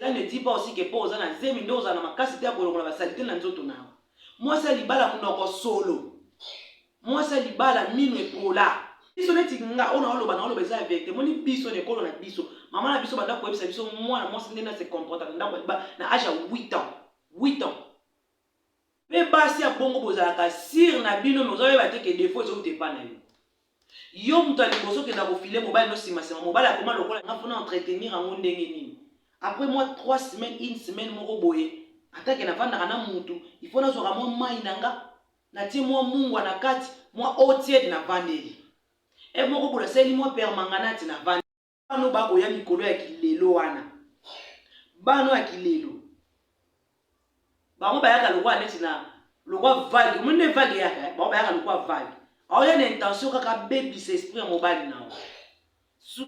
Cela ne dit pas aussi que po oza na zemi nde ozala na makasi te ya kolongola ba salite na nzoto na yo. Mwasi ya libala munoko solo. Mwasi ya libala minu epola. Biso neti nga oyo naoloba naoloba eza ya verite moni biso na ekolo na biso mama na biso banda koyebisa biso mwana mwasi nde na se comporta na ndako ya libala na age ya 8 ans 8 ans Pe basi ya bongo bozalaka sire na bino mais ozoyeba te ke defo ezouta epa na yo. Yo moto ya liboso okenda kofile mobali no sima sima mobali akoma lokola nga po na entretenir yango ndenge nini? Apres mwa trois semaines une semaine moko boye ata ke navandaka na mutu il faut nazwaka mwa mayi na nga natie mwa mungwa na kati mwa eau tiede navandeli. Heure moko boye nasaleli mwa permanganate navandeli. bana oyo bakoya mikolo ya kilelo wana bana ya kilelo bango bayaka lokola neti na lokola vage omoni nde vage eyaka eh? bango bayaka lokola vage aoya na intention kaka abebisa esprit ya mobali na yo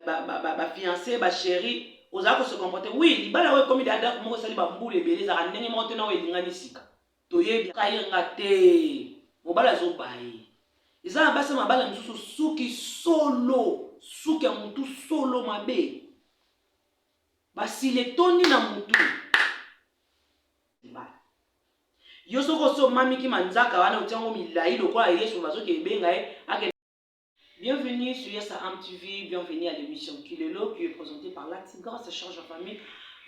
bafiance bachéri ozala kose comporte wi libala oyo ekomi dada moko esali bambula ebele ezalaka ndenge moko te na oyo elingani sika Toyebi kaye nga te mobali azo baye eza na basi ya mabala mosusu suki solo suki ya motu solo mabe basile etondi na motu yo soki osi omamiki manzaka wana otiango milai lokola yesu bazokende ebenga ye Bienvenue sur Yassa Am TV, bienvenue à l'émission Kilelo qui est présentée par la Tigresse Charge en Famille.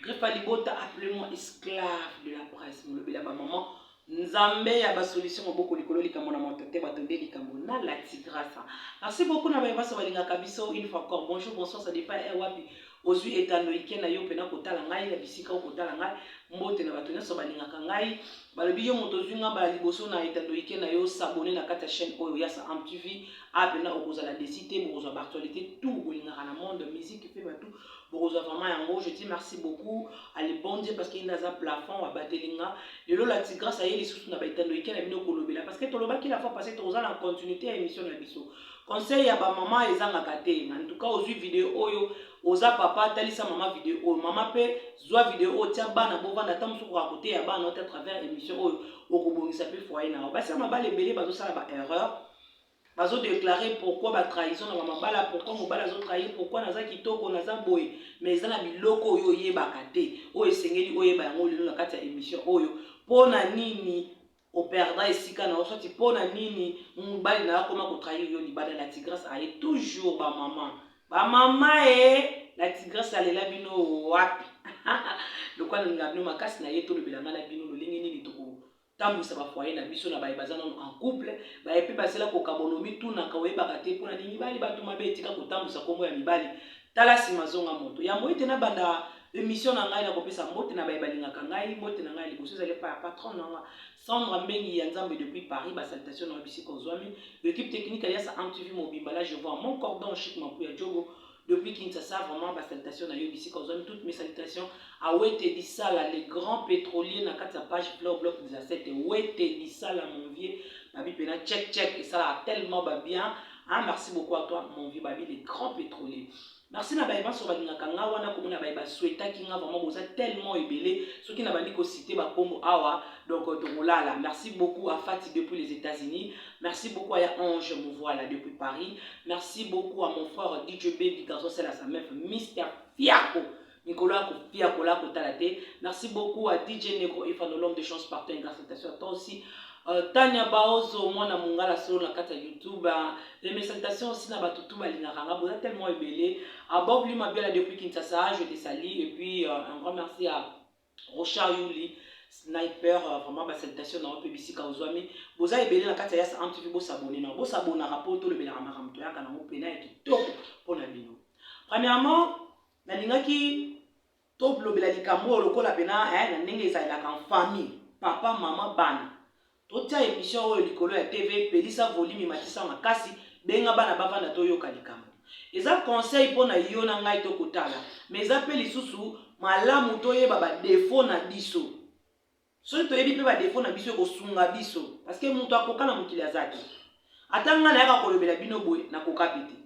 Greffa Libota, appelez-moi esclave de la presse, molobela ba maman. Nzambe ya ba solution moboko likolo likambo na moto te bato nde likambo na la Tigresse. Merci beaucoup na baye baso balingaka biso une fois encore. Bonjour, bonsoir, ça dépend eh wapi. ozwi etando ike na yo mpena kotala ngai na bisika okotala ngai mbote na bato nyonso balingaka ngai Balobi yo moto ozui nga mbala liboso na etando ike na yo s'abonner na kati ya chaine oyo ya sa amtv awa pena okozala desi te bokozwa b'actualite tout bolingaka na monde musique pe batu bokozwa vraiment yango je dis merci beaucoup à le bon Dieu parce que yende aza plafond abateli nga lelo la tigresse aye lisusu na ba etando ike na bino kolobela parce que tolobaki la fois passé tokoza na continuité ya émission na biso conseil ya ba maman ezangaka te en tout cas ozui video oyo oza papa talisa mama video oyo mama pe zwa video oyo tia bana bovanda ata mosuku ya koteya bana ote à travers émission oyo okobongisa mpe foyer na yo basi ya mabala ebele bazosala ba erreur bazodeklare pourkui batrahison na bamabala pourkui mobali azotrahi pourkui naza kitoko naza boye mais eza na biloko oyo oyebaka te oyo esengeli oyeba yango lelo na kati ya émission oyo mpo na nini o perdra esika na yo soit pona nini mobali na yo akoma ko trahir yo libanda la tigresse aye toujours ba maman ba maman ee la tigresse alela bino wapi lokola nalinga bino makasi na ye tolobela ngai na bino lolenge nini toko tambwisa ba foyer na biso na baye baza nano en couple baye mpe basila kokabolo mitunaka oyebaka te mpo na nini mibali bato mabe etika kotambwisa nkombo ya mibali tala nsima zonga moto yambo ete nabanda Emission na ngai nakopesa mbote na baye balingaka ngai, mbote na ngai ya liboso ezali epai ya patron na nga Sandra Mbengi ya Nzambe depuis Paris, ba salutations na yo bisika ozwami, l'equipe technique alias MTV mobimba na je vois mon cordon chic Mapuya Jogo depuis Kinshasa vraiment ba salutations na yo bisika ozwami, toutes mes salutations à Wete Lisala le grand pétrolier na kati ya page Flow Block 17 Wete Lisala mon vieux babi pena check check esalaka tellement ba bien Hein, merci beaucoup à toi, mon vieux Babi, le grand pétrolier. Merci na baye banso balingaka nga wana komona baye ba souhaitaki nga vraiment boza tellement ebele soki na bandi ko citer ba kombo awa donc euh, tokolala merci beaucoup à Fati depuis les États-Unis merci beaucoup à ya Ange Muvuala depuis Paris merci beaucoup à mon frère DJ Baby garçon c'est la sa meuf Mister Fiaco mikolo ya kopia kola kotala te merci beaucoup à dj negro efano l'homme de chance partout un garçon à toi aussi Euh, tania baozo mwana mongala solo na kati ya youtube les messaitations aussi na bato tout balingaka nga boza tellement ebele abobli mabiala depuis kinshasa je te sali et puis euh, un grand merci à rochard yuli sniper euh, vraiment basalutation na yo mpe bisika ozwami boza ebele na kati ya yasa antv bosabone na bosabonaka mpo tolobelaka makambo toyaka nango mpena ya kitoko mpo na bino premièrement nalingaki tolobela likambo oyo lokola mpena eh, na ndenge ezalelaka en famille papa mama bana totya emission oyo likolo ya tv pelisa volimi matisa makasi benga bana bavanda toyoka likambo eza conseil mpo na yo na ngai tokotala ma eza mpe lisusu malamu toyeba badefo na biso soki toyebi mpe badefo na biso ekosunga biso parceke moto akoka na mokili aza te ata ngai nayaka kolobela bino boye nakoka mpe te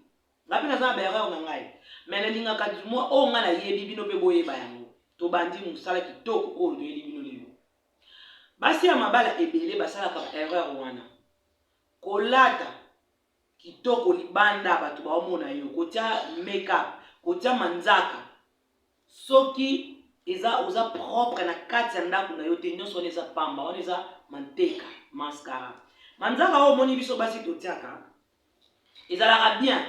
ngai mpe naza na baerreur na ngai me nalingaka mwa oyo ngai nayebi bino mpe boyeba yango tobandi mosala kitoko oyo toyeli bino lelo basi ya mabala ebele basalaka baerreur wana kolata kitoko libanda bato baomona yo kotia makeup kotia manzaka soki eza oza propre na kati ya ndako na yo te nyonso wana eza pamba wana eza manteka mascara manzaka oyo omoni biso basi totiaka ezalaka bien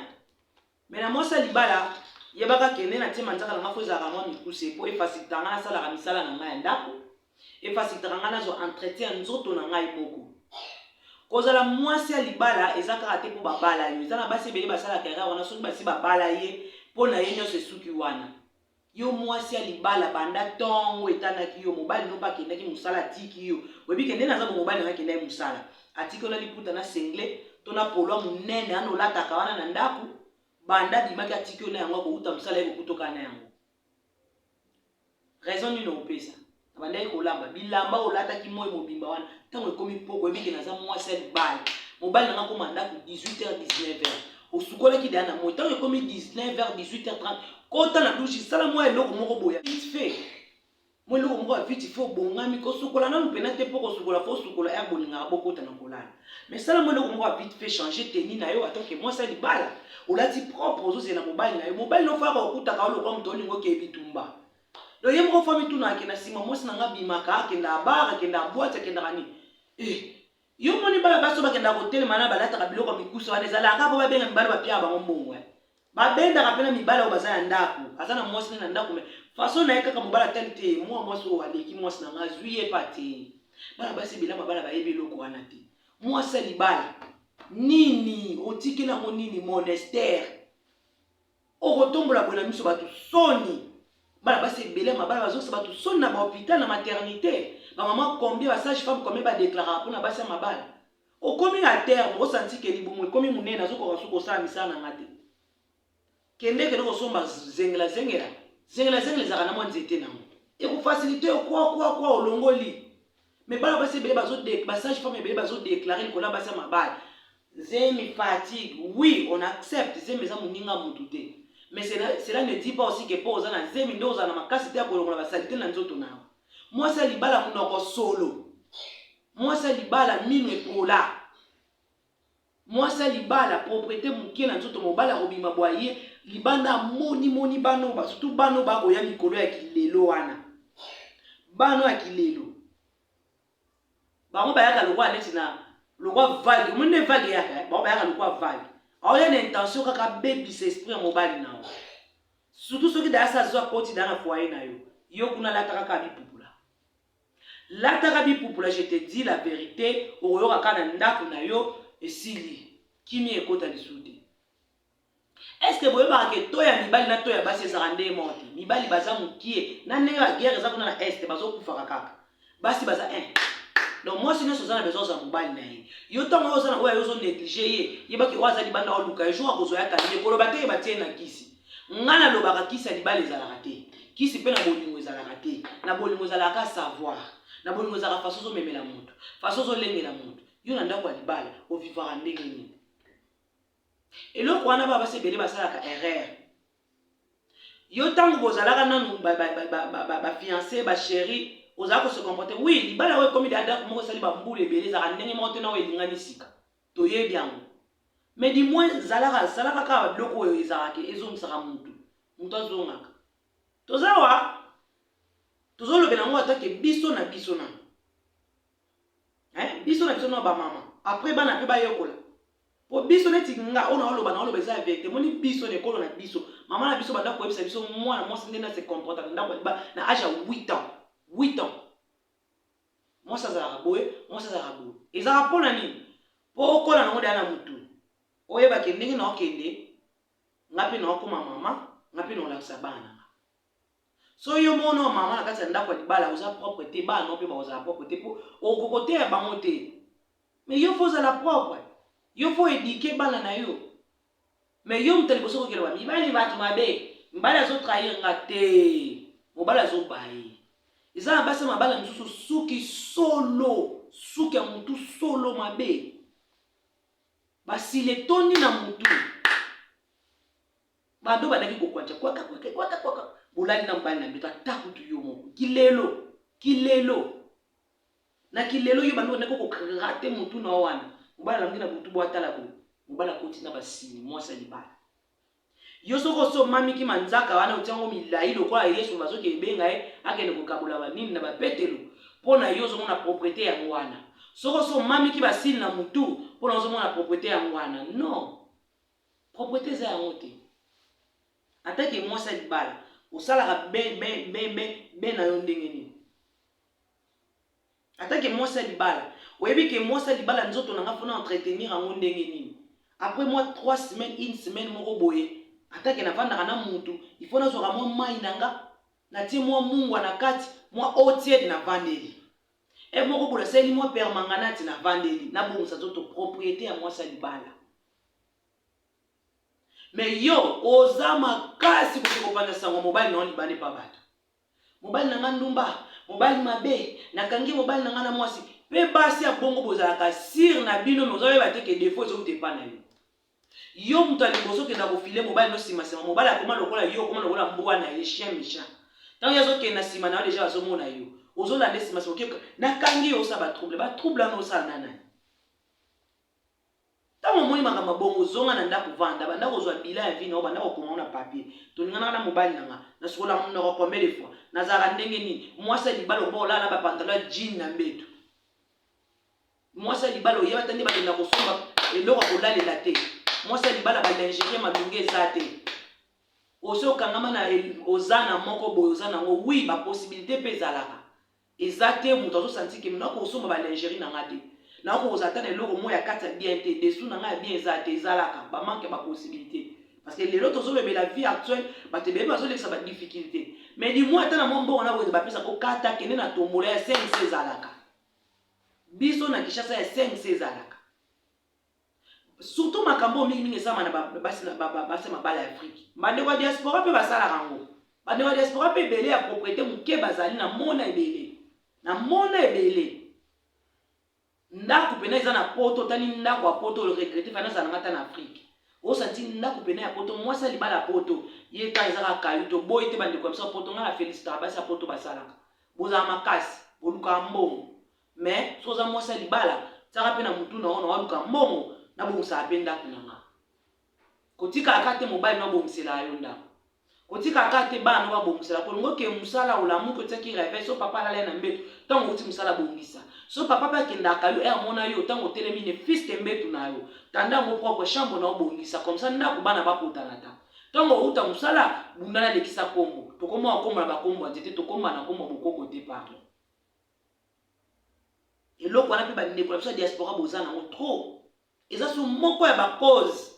Mais na mwasi ya libala, yebaka ke nde natie manzaka na nga fo ezalaka mwa mikuse po efasilitaka nga nasalaka misala na nga ya ndako, efasilitaka nga nazwa entretien ya nzoto na ngai moko. Kozala mwasi ya libala eza kaka te po babala yo, eza na basi ebele basalaka erreur wana soki basi babala ye, po na ye nionso esuki wana. Yo mwasi ya libala banda tongo etangaki yo mobali no mpe akendaki mosala atiki yo oyebi ke nde naza bo mobali nanga akendaki mosala atiki yo na liputa na sengle to na polo ya monene wana olataka wana na ndako banda abimaki atiki yo na yango akowuta mosala ye kokuta okaa na yango raison nini okopesa Nabandaki kolamba bilamba oyo olataki moi mobimba wana ntango ekomi mpoko oyebi ke naza mwasi ya libala mobali nanga akoma ndako 18h 19h osukolaki deya na moi ntango ekomi 19h 18h30 kota na dushi sala mwa eloko moko boya vite fait mwa eloko moko ya vite fait obongami kosukola nanu mpena te mpo kosukola fo osukola ya bolingaka bokota na kolala mais sala mwa eloko moko ya vite fait change teni na yo atanke mwasi ya libala olati propre ozozela mobali na yo mobali nofaka okutaka yo lokwa moto olingo okeyebi tumba Donc ye moko fami tuna ake na sima mwasi na nga bimaka akenda bar akenda boite akendaka nini eh yo moni bana basi bakendaka kotelema na balataka biloko ya mikusa wana ezalaka kaka mpo babenga mibali bapiaka bango mbongo eh. babendaka mpe na mibali oyo baza na ndako aza na mwasi ne na ndako me faso na ye kaka mobali atali te mwa mwasi oyo aleki mwasi na nga azwi ye pa te bana basi bilama bana bayebi eloko wana te mwasi ya libala nini otikeli yango nini monastere okotombola boye na miso bato soni bana basi ebele ya mabala bazongisa bato soni na bahopital na maternité bamama combien basage femme combien badeklaraka mpona basi ya mabala okomi na terme osantike libumu ekomi monene azokoka suku kosala misala na nga te kende kende kosomba zengela zengela zengela zengela ezalaka na mwa nzete nango ekofasilite yo kwakwa kwa olongoli Mais bana basi ebele bazo ba sage femme ebele bazo déclarer likolo ya basi ya mabala. Zemi fatigue. Oui, on accepte zemi eza moninga mutu te. Mais cela, cela ne dit pas aussi que po oza na zemi nde ozala na makasi te ya kolongola ba salite na nzoto na yo. Mwasi ya libala munoko solo. Mwasi ya libala minu epola. Mwasi ya libala proprete mukie na nzoto mobali akobima bwa ye libanda amoni moni bana oyo surtout bana oyo bakoya mikolo ya kilelo wana bana ya kilelo bango bayaka lokola neti na lokola vague omoni nde vague eyaka eh? bango bayaka lokola vague aoya na intention kaka abebisa esprit ya mobali na yo surtout soki dayasa azwa koti daya na foye na yo yo kuna lata kaka bipupula Lataka bipupula je te dis la verite okoyoka kaka na ndaku na yo esili kimia ekota lisusu te. Est-ce que boyebaka ke to ya mibali na to ya basi ezalaka nde moko te? Mibali baza mukie na ndenge ba guerre eza kuna na est bazokufaka kaka. Basi baza un. Eh. Donc mwasi nyonso oza na besoin ozwa mobali na ye. Yo ntango oyo oza na oyo ozo negliger ye, yeba ke oyo aza libanda oluka ye jour akozwa ye akangi ye koloba te ye batie ye na kisi. Nga na lobaka kisi ya libala ezalaka te. Kisi mpe na bolingo ezalaka te. Na bolingo ezalaka ka savoir. Na bolingo ezalaka façon ozo memela moto, façon ozo lengela moto. Yo na ndako ya libala o vivaka ndenge nini? Eloko wana ba basi ebele basalaka erreur. Yo tango bozalaka nanu ba ba ba ba ba, ba, ba fiancé, ba chérie, ozalaka ko se comporter. Oui, libala oyo ekomi da ndako moko esali ba mbula ebele ezalaka ndenge moko te na oyo elingani sika. Toyebi yango. Mais du moins zalaka salaka kaka ba biloko oyo ezalaka ke ezongisaka mutu. Mutu azongaka. Toza awa tozo lobela yango ata ke biso na biso nanu. Hein biso na biso nanu ba mama. Après bana pe bayekola. Po biso neti nga oyo naoloba naoloba eza ya verite. Omoni biso na ekolo na biso. Mama na biso abanda koyebisa biso mwana mwasi ndenge a se comportaka na ndaku ya libala na age ya 8 ans. 8 ans. mwasi azalaka boye mwasi azalaka boye ezalaka mpo na nini mpo okola nango deya na motu oyebake ndenge na okende nga mpe na okoma mama nga mpe na olakisa bana na nga so yo mona o mama na kati ya ndako ya libala oza propre te bana nao mpe bakozala propre te mpo okokoteya bango te me yo fo ozala propre yo fo edike bana na yo Mais yo moto ya liboso okoki koloba mibali bato mabe, mobali azo trahir nga te, mobali azo baye. Eza na basi ya mabala mosusu suki solo, suki ya motu solo mabe. Basili etondi na motu. Bado bandaki kokwancha kwaka kwaka kwaka kwaka. Bolali na mobali na beta takutu yo moko. Kilelo, kilelo. Na kilelo yo bando ndeko ko gratter mutu na wana. Mobala lamuki na butu bo atala boye. Mobala koti na basini mwasi ya libala. Yo soki oso mami ki manzaka wana otiango milayi lokola Yesu bazo ke ebenga ye akende ko kabola ba nini na ba petelo pona yo ozo mona proprete ya ngwana. Soki oso mami ki basini na mutu pona ozo mona proprete ya ngwana non proprete eza yango te. Ata ke mwasi ya libala osalaka be be be be be na yo ndenge nini. Ata ke mwasi ya libala, oyebi ke mwasi ya libala nzoto na nga faut na entretenir yango ndenge nini? Après mwa trois semaines, une semaine moko boye, ata ke nafandaka na mutu, il faut nazwaka mwa mayi na nga, natie mwa mungwa na kati, mwa eau tiède navandeli. Heure moko boye nasaleli mwa permanganate navandeli, nabongisa nzoto, propriete ya mwasi ya libala. Mais yo, oza makasi kokende kopanza sango ya mobali na yo libanda epa batu. Mobali na nga ndumba, mobali mabe, nakangi mobali na nga na mwasi. Pe basi ya bongo bozalaka sire na bino, mais ozoyeba te ke defo ezouta epa na yo. Yo moto ya liboso kenda kofile mobali no sima sima, mobali akoma lokola yo, okoma lokola mbwa na ye, chien mechant. Tango ye azokende na sima na yo deja bazomona yo, ozolande sima sima, okeyoka nakangi yo, osala ba trouble. Ba trouble wana osala na nani? Ntango omoni makambo ya bongo, zonga na ndako, vanda, banda kozua bilan ya vie na yo, banda kokoma yango na papier. Tolinganaka na mobali na nga, nasukolaka munoko combien de fois? Nazalaka ndenge nini? Muasi ya libala okoba kolala na ba pantalon ya jean na mbetu? Muasi ya libala oyeba ata nde bakenda kosomba eloko ya kolalela te? Muasi ya libala ba lingerie malunga eza te? Osi okangama na oza na moko boye oza na yango? Oui, ba possibilite mpe ezalaka. Eza te mutu azo sentir que nako kosomba ba lingerie na nga te. Nako kozala ata na eloko moko ya kati ya bien te. Dessous na nga ya bien eza te, ezalaka. Ba manque ya ba possibilite. Parce que lelo tozo lobela vie actuelle, batu ebele bazo lekisa ba difficulte. Mais du moins ata na mwa mbongo na wenze ba pesa ko kata kende na tombola ya CNC ezalaka. Biso na Kinshasa ya CNC ezalaka. Surtout makambo mingi mingi esalama na basi na basi ya mabala ya Afrique. Bandeko ya diaspora mpe basalaka yango. Bandeko ya diaspora mpe ebele ya propriete moke bazali na mona ebele. Na mona ebele. Ndako pena eza na poto, otali ndako ya poto, le regrette, fana azala nga ta na Afrique. Osanti ndako pena ya poto, mwasi ya libala ya poto, ye ka eza kaka kayu, toboyi te bandeko ya biso ya poto, nga na felicitaka basi ya poto basalaka. Bozala makasi, bolukaka mbongo. mais soki oza mwasi ya libala tiaka mpe na mutu na yo na waluka mbongo nabongisaka mpe ndako na nga kotikaka te mobali no abongisela yo ndako kotikaka te bana no babongisela kolingo ke mosala olamuki otiaki reve so papa alala na mbetu ntango oti mosala bongisa so papa mpe akendaka yo amona yo ntango otelemi ne fiste mbetu na yo tanda yango propre chambre na obongisa komsa ndako bana bakotana ta ntango outa mosala bundana lekisa nkombo tokoma okombo na bakombo ya nzete tokoma na nkombo bokoko te pardon eloko wana mpe bandeko na biso ya diaspora boza nango trop eza so moko ya bacause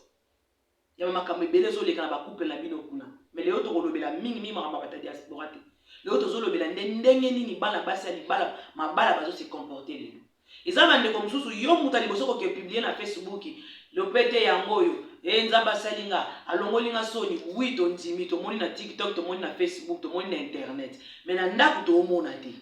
ya bamakambo ebele ezoleka na bacouple na bino kuna me lelo tokolobela mingi mingi makambo ya bato ya diaspora te lelo tozolobela nde ndenge nini bana basi ya libala mabala bazo se comporte lelo eza bandeko mosusu yo moto ya liboso koke publie na facebook Lopete yango oyo ee nzambe asali nga alongoli nga soni wi tondimi tomoni na tiktok tomoni na facebook tomoni na internet me na ndako toomona te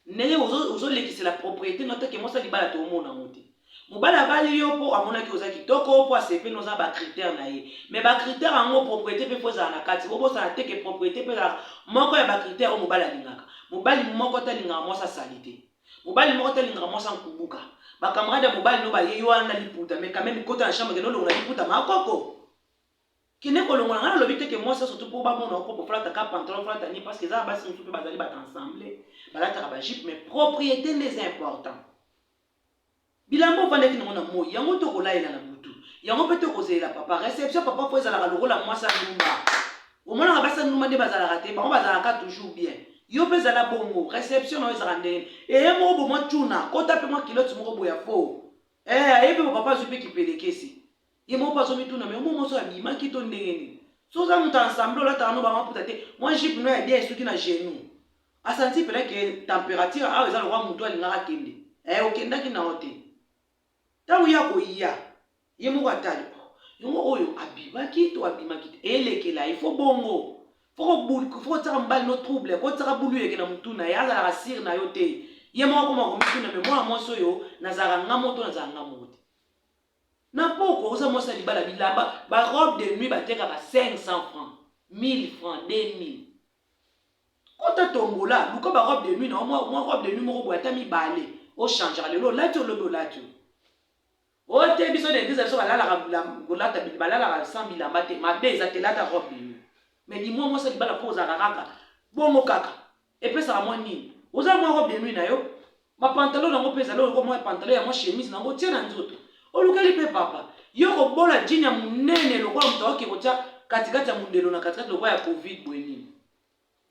ndenge ozolekisela ozo propriété no atake mwasa libala toomona yango te mobali abali yo mpo amonaki oza kitoko mpo asepeli oza na bacritère na ye me bacritère yango propriété mpe mpo ezala na kati bobosana te ke propriété mpe ezalaka moko ya bacritère oyo mobali alingaka mobali moko te alingaka mwasi asali te Mobali moko te alingaka mwasi ankubuka. Ba camarades ya mobali no baye yo wana liputa mais quand même kota na chambre kende olongola liputa ma koko. Kende kolongola nga nalobi te ke mwasi ya surtout po bamona yo propre ofalata ka pantalon ofalata nini parce que eza na basi mosusu pe bazali bato ensemble balataka ba jupe mais propriete nde eza important. Bilamba ovandaki nango na moi yango to kolaela na butu yango pe to kozelela papa reception papa po ezalaka lokola mwasi andumba omonaka basi andumba nde bazalaka te bango bazalaka toujours bien yo pe zala bongo reception na yo ezalaka ndenge eye moko bo mwa tuna kota pe mwa kilote moko boya po eh ayebi bo papa azwi pe kipelekesi ye moko azo mituna mais omo moso abimaki to ndenge nini so oza moto ensemble olataka no bango aputa te mwa jipe no ya bien esuki na genou asanti pena ke temperature awa eza lokwa moto alingaka akende eh okendaki na yo te ntango ye akoya ye moko atali oh, yango oyo abimaki to abimaki te elekela ifo bongo fokotiaka mobali no trouble kotiaka bulu eleke na motu na ye azalaka sire na yo te ye moko akoma komituna me mwana mwasi oyo nazalaka nga moto nazalaka nga moko te na pokwa oza mwasi ya libala bilamba ba robe de nuit batekaka 500 francs 1000 francs 2000 kota tombola luka ba robe de nuit na mwa, mwa robe de nuit moko boye ata mibale ochangeaka lelo olati olobi olati oyo te biso na eglise biso balalaka kolata balalaka sans bilamba te mabe eza te lata robe de nuit mais limwa mwasi ya libala mpo ozalaka kaka bongo kaka epesaka mwa nini oza mwa robe de nuit na yo bapantalo nango mpe ezali oloko mwa pantalo ya mwa chemise nango tie na nzoto olukeli mpe papa yo kobola jini ya monene lokola moto aoki kotya katikati ya mondelo na katikati lokola ya covid boye nini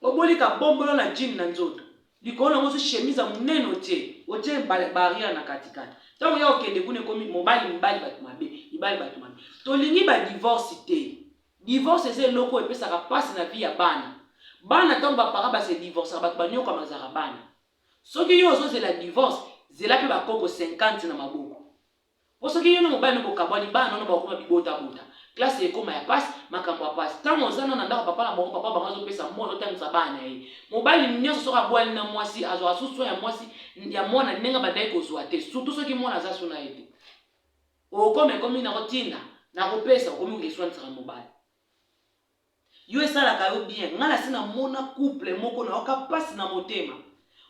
oboli kabombolo na jini na nzoto likolo nango osi chemise ya monene otie otie barrière na katikati ntango ya okende kuna ekomi mobali mibali bato mabe mibali bato mabe tolingi badivorce te Divorce eza eloko oyo epesaka pasi na vie ya bana. Bana tango ba parents ba se divorcaka batu ba nioka mazaka bana. Soki yo ozo zela divorce, zela pe ba koko 50 na maboko. Po soki yo na mobali no bo kabwani, bana no bako koma bi bota bota. Classe ekoma ya pasi, makambo ya pasi. Tango oza nanu na ndako ya papa na bango, papa na bango azo pesa mbongo azo tangisa bana na ye. Mobali nionso soki abwani na mwasi, azwaka su soin ya mwasi, ya mwana ndenge abandaki kozwa te. Surtout soki mwana aza su na ye te. Okomi ekomi nako tinda nako pesa okomi ko esuanisaka mobali yo esalaka yo bien nga nasi na mona couple moko na yoka pasi na motema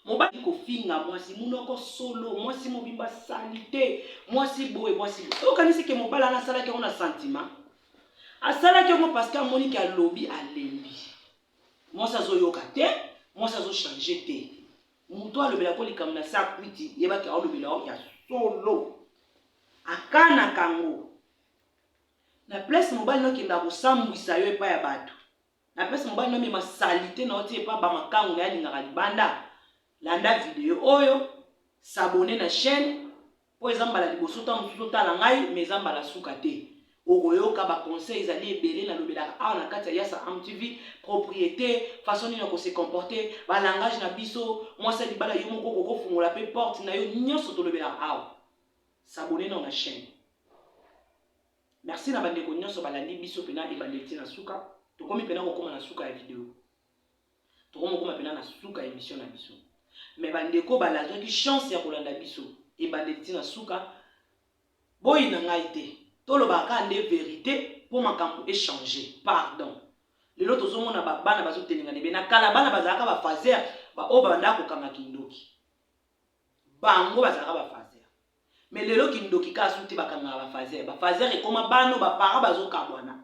mobali kofinga mwasi munoko solo mwasi mobimba salite mwasi boye mwasi boye okanisi ke mobali ana asalaki yango na sentiment asalaki yango parce que amoni ke alobi alembi mwasi azoyoka te mwasi azochange te Mutu alobela ko likambo na sa kwiti yeba ke aolobela yo ya solo. Akanaka ngo. Na place mobali no kenda kosambwisa yo epa ya batu. Na place mobali no mema salite na yo ti epa ba makangu na ye alingaka libanda. Landa video oyo, s'abonner na chaine. Po eza mbala liboso tango mosusu otala ngai mais eza mbala suka te okoyoka ba conseils ezali ebele nalobelaka awa na kati ya Yassa Am TV propriete façon nini ya ko se comporter ba langage na biso mwasi ya libala yo moko okoki ofungola pe porte na yo nionso tolobelaka awa s'abonner nao na chaine Merci na bandeko nionso balandi biso pena ebandeli ti na suka tokomi pena kokoma na suka ya video. Toko mokoma pena na suka ya emission na biso. Mais ba ndeko ba lazwaki chance ya kolanda biso ebandeli ti na suka. Boyina ngai te. Tolobaka kaka nde verite po makambo e changer. Pardon. Lelo tozo mona ba bana bazo telengana ebele. Na kala bana bazalaka ba fazeur ba oyo babandaka kokanga kindoki. Bango bazalaka ba fazeur. Mais lelo kindoki ka su te bakangaka ba fazer. Ba fazer ekoma bano ba parents bazokabwana.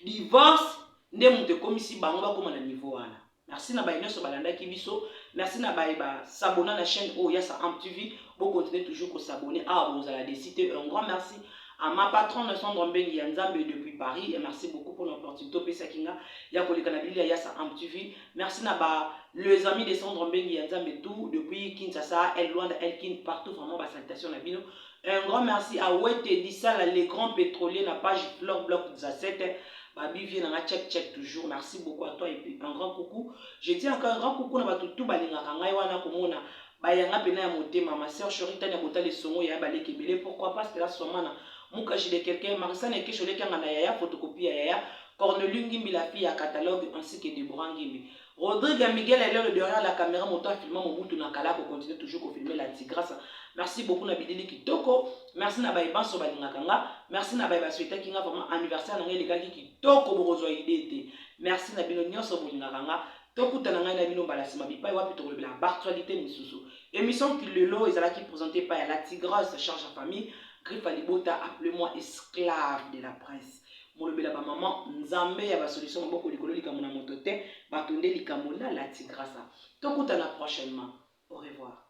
Divorce nde moto ekomisi bango bakoma na niveau wana. Merci na baye nionso balandaki biso. Merci na baye ba s'abonna na chaîne oyo ya Saam TV. Bo continuer toujours ko s'abonner awa bokozala desi te. Un grand merci à ma patronne Sandra Mbengi ya Nzambe depuis Paris et merci beaucoup pona opportunité opesaki nga ya koleka na bilili ya Yasa Am TV. Merci na ba les amis de Sandro Mbengi ya Nzambe tout depuis Kinshasa, El Luanda, El Kin partout vraiment ba salutations na bino. Un grand merci à Wete Disala le grand pétrolier na page Flore Block Dzasete. Babi vie na nga check check toujours. Merci beaucoup à toi et puis un grand coucou. Je dis encore un grand coucou na batu tout balingaka ngai wana komona ba yanga pena ya motema ma sœur Chori tania botala esongo yaya baleki ebele pourquoi pas Stella Swamana Muka Gilles quelqu'un Marisane Ekesho leki anga na yaya photocopie ya yaya Corneliu Ngimbi la fille ya catalogue ainsi que Deborah Ngimbi Rodrigue Miguel Elelo derrière la caméra moto a filma Mobutu na kala ko continuer toujours ko filmer la tigresse merci beaucoup na bilili kitoko merci na baye banso balingaka nga merci na baye basuetaki nga vraiment anniversaire na nga elekaki kitoko bokozwa idee te merci na bino nyonso bolingaka nga Tokutana ngai na bino mbala sima bipai wapi tokolobela b'actualite misusu. Emission Kilelo ezalaki presente epai ya la Tigresse charge ya famille, Griffe ya libota appelez-moi esclave de la presse. Molobela ba maman, Nzambe ya ba solution maboko likolo likambo na moto te, bato nde likambo na la Tigrasa. Tokutana prochainement. Au revoir.